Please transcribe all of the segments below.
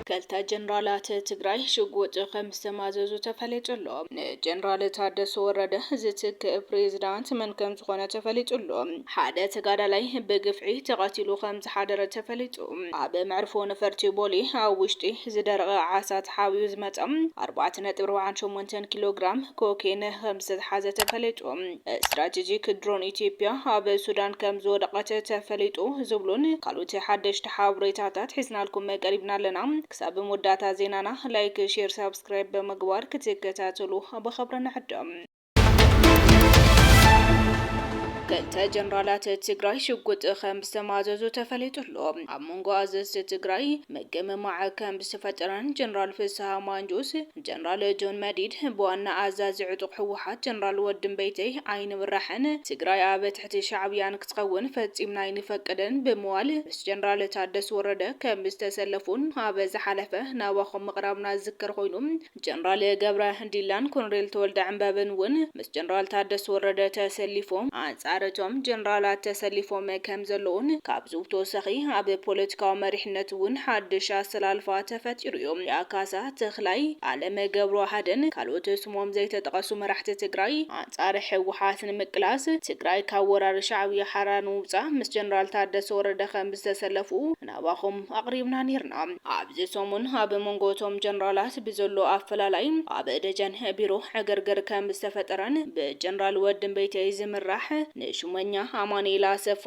ክልተ ጀነራላት ትግራይ ሽጉጥ ከምዝተማዘዙ ተፈሊጡ ኣሎ። ንጀነራል ታደሰ ወረደ ዝትክእ ፕሬዝዳንት መን ከምዝኾነ ተፈሊጡ ኣሎ። ሓደ ተጋዳላይ ብግፍዒ ተቐቲሉ ከም ከምዝተሓደረ ተፈሊጡ። ኣብ መዕርፎ ነፈርቲ ቦሌ ኣብ ውሽጢ ዝደረቐ ዓሳ ተሓቢኡ ዝመፀ ኣርባዕተ ነጥቢ ኣርብዓን ሸሞንተን ኪሎ ግራም ኮኬይን ከምዝተትሓዘ ተፈሊጡ። ስትራቴጂክ ድሮን ኢትዮጵያ ኣብ ሱዳን ከምዝወደቐት ተፈሊጡ ዝብሉን ካልኦት ሓደሽቲ ሓበሬታታት ሒዝናልኩም ቀሪብና ኣለና። ክሳብ መወዳእታ ዜናና ላይክ፣ ሼር፣ ሳብስክራይብ ብምግባር ክትከታተሉ ብኽብሪ ንዕድም። ክልተ ጀነራላት ትግራይ ሽጉጥ ከም ዝተማዘዙ ተፈሊጡ ኣሎ። ኣብ መንጎ ኣዘዝቲ ትግራይ ምግምማዕ ከም ዝተፈጠረን ጀነራል ፍስሃ ማንጁስ፣ ጀነራል ጆን መዲድ ብዋና ኣዛዚ ዕጡቕ ህወሓት ጀነራል ወድምበይተይ ኣይንምራሕን፣ ትግራይ ኣብ ትሕቲ ሻዕብያን ክትኸውን ፈጺምና ኣይንፈቅድን ብምባል ምስ ጀነራል ታደስ ወረደ ከም ዝተሰለፉን ኣብ ዝሓለፈ ናባኹም ምቕራብና ዝዝከር ኮይኑ ጀነራል ገብረ ዲላን ኮሎኔል ተወልደ ዕንበብን ውን ምስ ጀነራል ታደሰ ወረደ ተሰሊፎም ኣንጻር እቶም ጀነራላት ተሰሊፎም ከም ዘለዉን ካብዚ ብተወሳኺ ኣብ ፖለቲካዊ መሪሕነት ውን ሓድሽ ኣሰላልፋ ተፈጢሩ ዩ። ያ ካሳ፣ ተኽላይ፣ ኣለም ገብረዋህድን ካልኦት ስሞም ዘይተጠቐሱ መራሕቲ ትግራይ ኣንጻር ህወሓት ንምቅላስ ትግራይ ካብ ወራር ሻዕብያ ሓራ ንምውጻእ ምስ ጀነራል ታደሰ ወረደ ከም ዝተሰለፉ ናባኹም ኣቕሪብና ኔርና። ኣብዚ ሰሙን ኣብ መንጎ እቶም ጀነራላት ብዘሎ ኣፈላላይ ኣብ ደጀን ቢሮ ዕግርግር ከም ዝተፈጠረን ብጀነራል ወዲምበይተይ ዝምራሕ ንሹመኛ ኣማኑኤል ኣሰፋ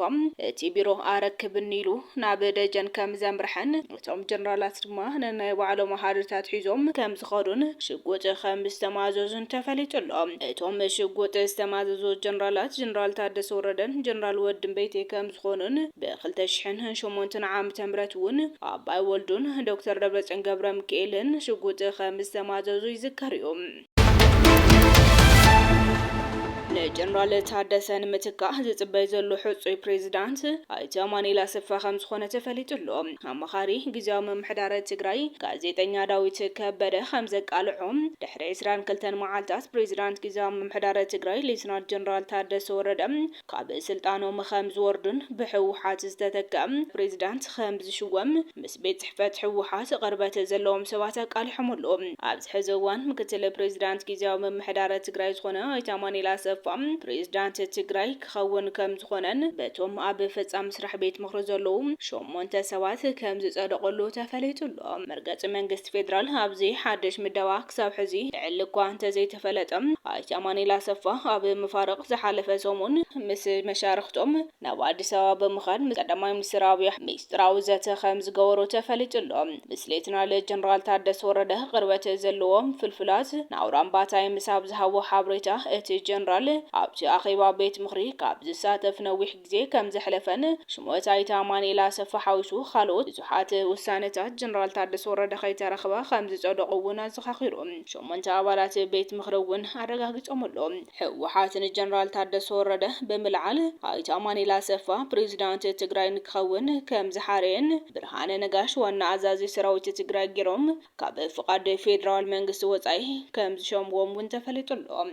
እቲ ቢሮ ኣረክብኒ ኢሉ ናብ ደጀን ከም ዘምርሐን እቶም ጀነራላት ድማ ነናይ ባዕሎም ሃድርታት ሒዞም ከም ዝኸዱን ሽጉጥ ከም ዝተማዘዙን ተፈሊጡ ኣሎ። እቶም ሽጉጥ ዝተማዘዙ ጀነራላት ጀነራል ታደሰ ወረደን ጀነራል ወዲምበይተይ ከም እንትኾኑን ብክልተ ሽሕን ሸሞንተን ዓመተ ምህረት እውን ኣባይ ወልዱን ዶክተር ደብረፅዮን ገብረምኪኤልን ሽጉጥ ከምዝተማዘዙ ይዝከር እዩ። ንጀነራል ታደሰ ንምትካእ ዝፅበይ ዘሎ ሕፁይ ፕሬዚዳንት ኣይተ ኣማኑኤል ኣሰፋ ከምዝኾነ ተፈሊጡ ኣሎ። ኣማኻሪ ግዚያዊ ምምሕዳረ ትግራይ ጋዜጠኛ ዳዊት ከበደ ከምዘቃልዖ ድሕሪ ዕስራን ክልተን መዓልታት ፕሬዚዳንት ግዚያዊ ምምሕዳረ ትግራይ ሌትናል ጀነራል ታደሰ ወረደ ካብ ስልጣኖም ኸም ዝወርዱን ብሕውሓት ዝተተከ ፕሬዚዳንት ኸም ዝሽወም ምስ ቤት ፅሕፈት ሕውሓት ቕርበት ዘለዎም ሰባት ኣቃሊሖም ኣለው። ኣብዚ ሕዚ እዋን ምክትል ፕሬዚዳንት ጊዚያዊ ምምሕዳረ ትግራይ ዝኾነ ኣይተ ኣማኒኤል ኣሰፋ ፕሬዚዳንት ትግራይ ክኸውን ከም ዝኾነን በቶም ኣብ ፈፃሚ ስራሕ ቤት ምኽሪ ዘለው ሸሞንተ ሰባት ከም ዝፀደቐሉ ተፈሊጡ ኣሎ። መርገፂ መንግስቲ ፌዴራል ኣብዚ ሓድሽ ምደባ ክሳብ ሕዚ ዕሊ እኳ እንተዘይተፈለጠ፣ ኣይተ ኣማኒኤል ኣሰፋ ኣብ መፋርቕ ዝሓለፈ ሰሙን ምስ መሻርኽቶም ናብ ኣዲስ ኣበባ ብምኻድ ምስ ቀዳማይ ሚኒስትር ኣብይ ኣሕመድ ሚስጢራዊ ዘተ ከምዝገበሩ ተፈሊጡ ኣሎ። ምስ ሌተናል ጀነራል ታደሰ ወረደ ቅርበት ዘለዎም ፍልፍላት ንኣውራምባ ታይምስ ኣብ ዝሃብዎ ሓበሬታ፣ እቲ ጀነራል ኣብቲ ኣኼባ ቤት ምኽሪ ካብ ዝሳተፍ ነዊሕ ግዜ ከም ዘሕለፈን ሽሞት ኣይተ ኣማኒኤል ኣሰፋ ሓዊሱ ኻልኦት ብዙሓት ውሳነታት ጀነራል ታደሰ ወረደ ከይተረኽበ ከም ዝፀደቑ እውን ኣዘኻኺሩ። ሸሞንተ ኣባላት ቤት ምኽሪ እውን ኣረጋጊፆምሉ። ህወሓት ንጀነራል ታደሰ ወረደ ብምልዓል ኣይተ ኣማኒኤል ኣሰፋ ፕሬዚዳንት ትግራይ ንክኸውን ከም ዝሓረየን ብርሃነ ነጋሽ ዋና ኣዛዚ ሰራዊት ትግራይ ገይሮም ካብ ፍቓድ ፌዴራል መንግስቲ ወፃኢ ከምዝሸምዎም እውን ተፈሊጡ ኣሎ።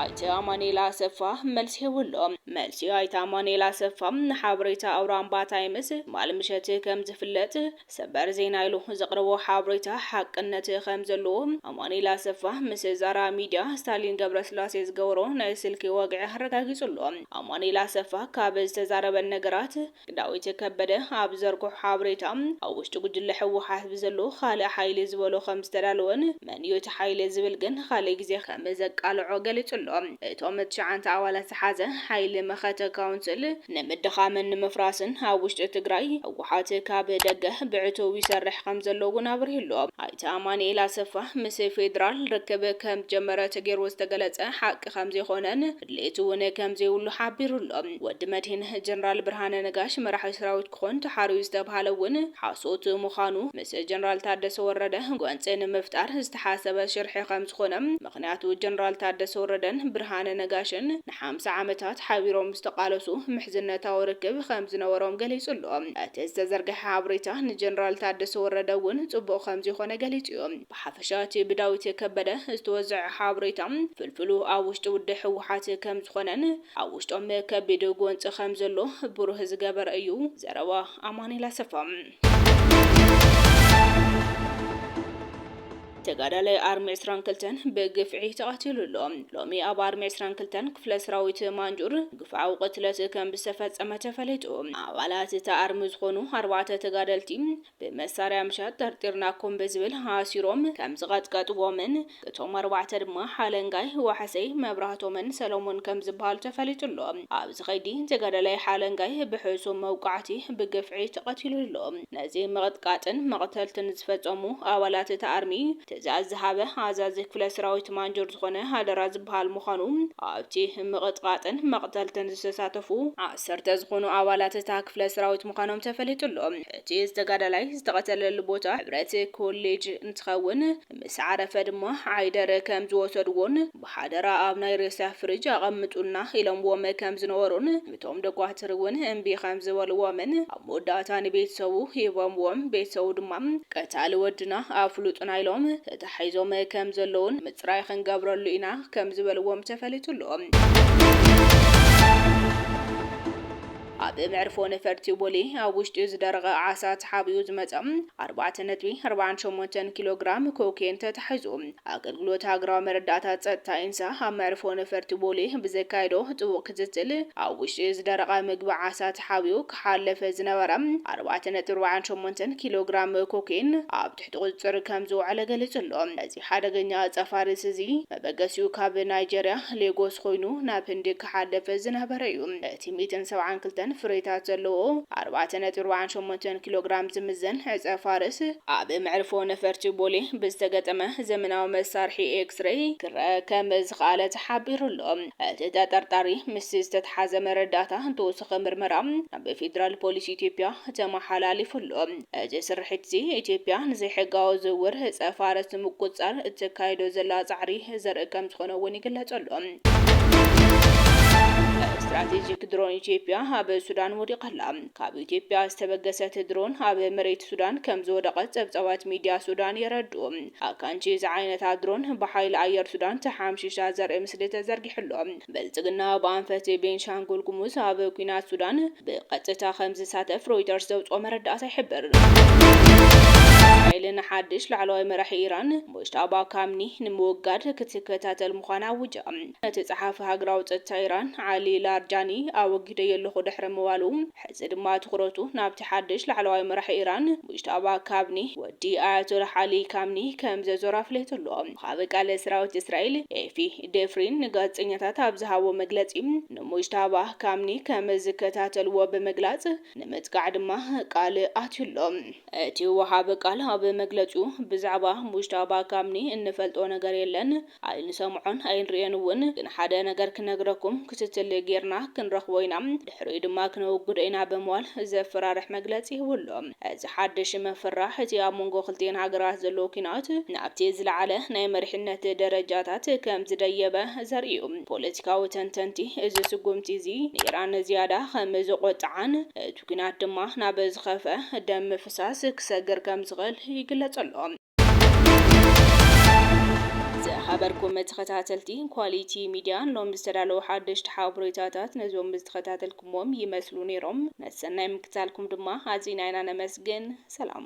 ኣይተ ኣማኑኤል ኣሰፋ መልሲ ሂቡ'ሎ። መልሲ ኣይተ ኣማኑኤል ኣሰፋ ንሓበሬታ ኣውራምባ ታይምስ ትማሊ ምሸት ከምዝፍለጥ ሰበር ዜና ኢሉ ዘቕረቦ ሓበሬታ ሓቅነት ከምዘለዎ ኣማኑኤል ኣሰፋ ምስ ዛራ ሚድያ ስታሊን ገብረስላሴ ዝገበሮ ናይ ስልኪ ወግዒ ኣረጋጊጹ'ሎ። ኣማኑኤል ኣሰፋ ካብ ዝተዛረበን ነገራት ዳዊት ከበደ ኣብ ዘርግሖ ሓበሬታ፣ ኣብ ውሽጢ ጉጅለ ህወሓት ብዘሎ ካልእ ሓይሊ ዝበሎ ከም ዝተዳለወን፣ መን'ዩ እቲ ሓይሊ ዝብል ግን ንኻልእ ግዜ ከም ዘቃልዖ ገሊጹ'ሎ። እቶም ትሽዓንተ ኣባላት ዝሓዘ ሓይሊ መኸተ ካውንስል፣ ንምድኻምን ንምፍራስን ኣብ ውሽጢ ትግራይ ህወሓት ካብ ደገ ብዕቱብ ይሰርሕ ከም ዘሎ'ውን ኣብሪሁ'ሎ። ኣይተ ኣማኑኤል ኣሰፋ፣ ምስ ፌደራል ርክብ ከም ዝጀመረ ተገይሩ ዝተገለጸ ሓቂ ከም ዘይኮነን፣ ድሌት እውን ከምዘይብሉ ሓቢሩ ኣሎ። ወዲ መድሂን ጀነራል ብርሃነ ነጋሽ መራሒ ሰራዊት ክኾን ተሓርዩ ዝተብሃለ እውን ሓሶት ምዃኑ ምስ ጀነራል ታደሰ ወረደ ጎንፂ ንምፍጣር ዝተሓሰበ ሽርሒ ከምዝኾነ ምኽንያቱ ጀነራል ታደሰ ወረደን ብርሃነ ነጋሽን ንሓምሳ ዓመታት ሓቢሮም ዝተቓለሱ ምሕዝነታዊ ርክብ ከምዝነበሮም ገሊፁ ኣሎ። እቲ ዝተዘርገሐ ሓበሬታ ንጀነራል ታደሰ ወረደ እውን ፅቡቕ ከምዘይኾነ ገሊፁ እዩ። ብሓፈሻ እቲ ብዳዊት ከበደ ዝተወዘዐ ሓበሬታ ፍልፍሉ ኣብ ውሽጢ ውድብ ህወሓት ከምዝኾነን ኣብ ውሽጦም ከቢድ ጎንፂ ከምዘሎ ብሩህ ዝገበረ እዩ። ዘረባ ኣማኒኤል ኣሰፋ። ተጋዳላይ ኣርሚ ዕስራን ክልተን ብግፍዒ ተቐቲሉ ኣሎ። ሎሚ ኣብ ኣርሚ ዕስራን ክልተን ክፍለ ሰራዊት ማንጁር ግፍዓዊ ቅትለት ከምዝተፈፀመ ተፈሊጡ። ኣባላት እታ ኣርሚ ዝኾኑ ኣርባዕተ ተጋደልቲ ብመሳርያ ምሸት ጠርጢርናኩም ብዝብል ኣሲሮም ከም ዝቐጥቀጥዎምን እቶም ኣርባዕተ ድማ ሓለንጋይ፣ ዋሕሰይ፣ መብራህቶምን ሰለሙን ከም ዝበሃሉ ተፈሊጡ ኣሎ። ኣብዚ ከይዲ ተጋዳላይ ሓለንጋይ ብሕሱም መውቃዕቲ ብግፍዒ ተቐቲሉ ኣሎ። ነዚ ምቕጥቃጥን መቕተልትን ዝፈፀሙ ኣባላት እቲ ኣርሚ ትእዛዝ ዝሃበ ኣዛዚ ክፍለ ሰራዊት ማንጆር ዝኾነ ሃደራ ዝበሃል ምዃኑ ኣብቲ ምቕጥቓጥን መቕተልትን ዝተሳተፉ ዓሰርተ ዝኾኑ ኣባላት እታ ክፍለ ሰራዊት ምዃኖም ተፈሊጡ ኣሎ። እቲ ዝተጋዳላይ ዝተቐተለሉ ቦታ ሕብረት ኮሌጅ እንትኸውን ምስ ዓረፈ ድማ ዓይደር ከም ዝወሰድዎን ብሓደራ ኣብ ናይ ሬሳ ፍሪጅ ኣቐምጡልና ኢሎምዎም ከም ዝነበሩን እቶም ዶኳትር እውን እምቢ ከም ዝበልዎምን ኣብ መወዳእታ ንቤተሰቡ ሂቦምዎም ቤተሰቡ ድማ ቀታሊ ወድና ኣፍሉጡና ኢሎም ተታሒዞም ከም ዘለዉን ምፅራይ ክንገብረሉ ኢና ከም ዝበልዎም ተፈሊጡ ኣሎ። ኣብ መዕርፎ ነፈርቲ ቦሌ ኣብ ውሽጢ ዝደረቐ ዓሳ ተሓቢኡ ዝመፀ ኣርባዕተ ነጥቢ ኣርብዓን ሸሞንተን ኪሎ ግራም ኮኬን ተታሒዙ። ኣገልግሎት ሃገራዊ መረዳእታ ፀጥታ ኢንሳ ኣብ መዕርፎ ነፈርቲ ቦሌ ብዘካየዶ ጥቡቕ ክትትል ኣብ ውሽጢ ዝደረቐ ምግቢ ዓሳ ተሓቢኡ ክሓለፈ ዝነበረ ኣርባዕተ ነጥቢ ኣርብዓን ሸሞንተን ኪሎ ግራም ኮኬን ኣብ ትሕቲ ቁፅፅር ከም ዝወዓለ ገሊፁ ኣሎ። እዚ ሓደገኛ ኣፃፋሪስ እዚ መበገሲኡ ካብ ናይጀርያ ሌጎስ ኾይኑ ናብ ህንዲ ክሓልፍ ዝነበረ እዩ። እቲ ሚእትን ሰብዓን ክልተን ፍሬታት ዘለዎ ኣርባዕተ ነጥቢ ኣርብዓን ሸሞንተን ኪሎግራም ዝምዘን ዕፀፋርስ፣ ኣብ መዕርፎ ነፈርቲ ቦሌ ብዝተገጠመ ዘመናዊ መሳርሒ ኤክስሬይ ክረኣ ከም ዝኸኣለ ተሓቢሩ ኣሎ። እቲ ተጠርጣሪ ምስቲ ዝተትሓዘ መረዳእታ ንተወሳኺ ምርመራ ናብ ፌዴራል ፖሊስ ኢትዮጵያ ተመሓላሊፉ ኣሎ። እዚ ስርሒት'ዚ ኢትዮጵያ ንዘይሕጋዊ ዝውውር ዕጸ-ፋርስ ንምቁጽጻር እተካይዶ ዘላ ጻዕሪ ዘርኢ ከምዝኾነ'ውን ይግለጸሉ። ስትራቴጂክ ድሮን ኢትዮጵያ ኣብ ሱዳን ወዲቓ ኣላ። ካብ ኢትዮጵያ ዝተበገሰት ድሮን ኣብ መሬት ሱዳን ከምዝወደቐት ጸብጻባት ሚድያ ሱዳን የረድኡ። ኣካንቺ ዝዓይነታ ድሮን ብሓይሊ ኣየር ሱዳን ተሓምሺሻ ዘርኢ ምስሊ ተዘርጊሑ'ሎ። ብልጽግና ብኣንፈት ቤንሻንጉል ጉሙዝ ኣብ ኲናት ሱዳን ብቐጥታ ከም ዝሳተፍ ሮይተርስ ዘውጽኦ መረዳእታ ይሕብር። እስራኤል ንሓድሽ ላዕለዋይ መራሒ ኢራን ሙጅታባ ካምኒ ንምውጋድ ክትከታተል ምዃና ኣዊጃ። እቲ ጸሓፊ ሃገራዊ ጸጥታ ኢራን ዓሊ ላርጃኒ ኣወጊደዮ ኣለኹ ድሕሪ ምባሉ፣ ሕዚ ድማ ትኹረቱ ናብቲ ሓድሽ ላዕለዋይ መራሒ ኢራን ሙጅታባ ካምኒ፣ ወዲ ኣያቶላህ ዓሊ ካምኒ፣ ከም ዘዞረ ኣፍሊጡ'ሎ። ወሃቢ ቃል ሰራዊት እስራኤል ኤፊ ዴፍሪን ንጋዜጠኛታት ኣብ ዝሃቦ መግለጺ፣ ንሙጅታባህ ካምኒ ከም ዝከታተልዎ ብምግላጽ፣ ንምጥቃዕ ድማ ቃል ኣትዩ ኣሎ። እቲ ወሃቢ ቃል ኣብ መግለጺኡ፣ ብዛዕባ ሙጅታባ ካምኒ እንፈልጦ ነገር የለን፣ ኣይንሰምዖን ኣይንርእዮን እውን፣ ግን ሓደ ነገር ክነግረኩም፣ ክትትል ጌርና ክንረኽቦ ኢና፣ ድሕሪኡ ድማ ክነውግዶ ኢና ብምባል ዘፈራርሕ መግለጺ ሂቡ ኣሎ። እዚ ሓድሽ ምፍርራህ እቲ ኣብ መንጎ ክልቲኤን ሃገራት ዘሎ ኲናት ናብቲ ዝለዓለ ናይ መሪሕነት ደረጃታት ከም ዝደየበ ዘርኢ እዩ። ፖለቲካዊ ተንተንቲ እዚ ስጉምቲ እዚ ንኢራን ዝያዳ ከም ዘቖጥዓን እቲ ኲናት ድማ ናብ ዝኸፍኣ ደም ምፍሳስ ክሰግር ከም ዝኽእል ይግለጽ ኣሎ። ዝኸበርኩም ተኸታተልቲ ኳሊቲ ሚድያ ሎሚ ዝተዳለዉ ሓደሽቲ ሓበሬታታት ነዞም ዝተኸታተልኩምዎም ይመስሉ ነይሮም። ነቲ ሰናይ ምክትታልኩም ድማ ኣዚና ኢና ነመስግን። ሰላም።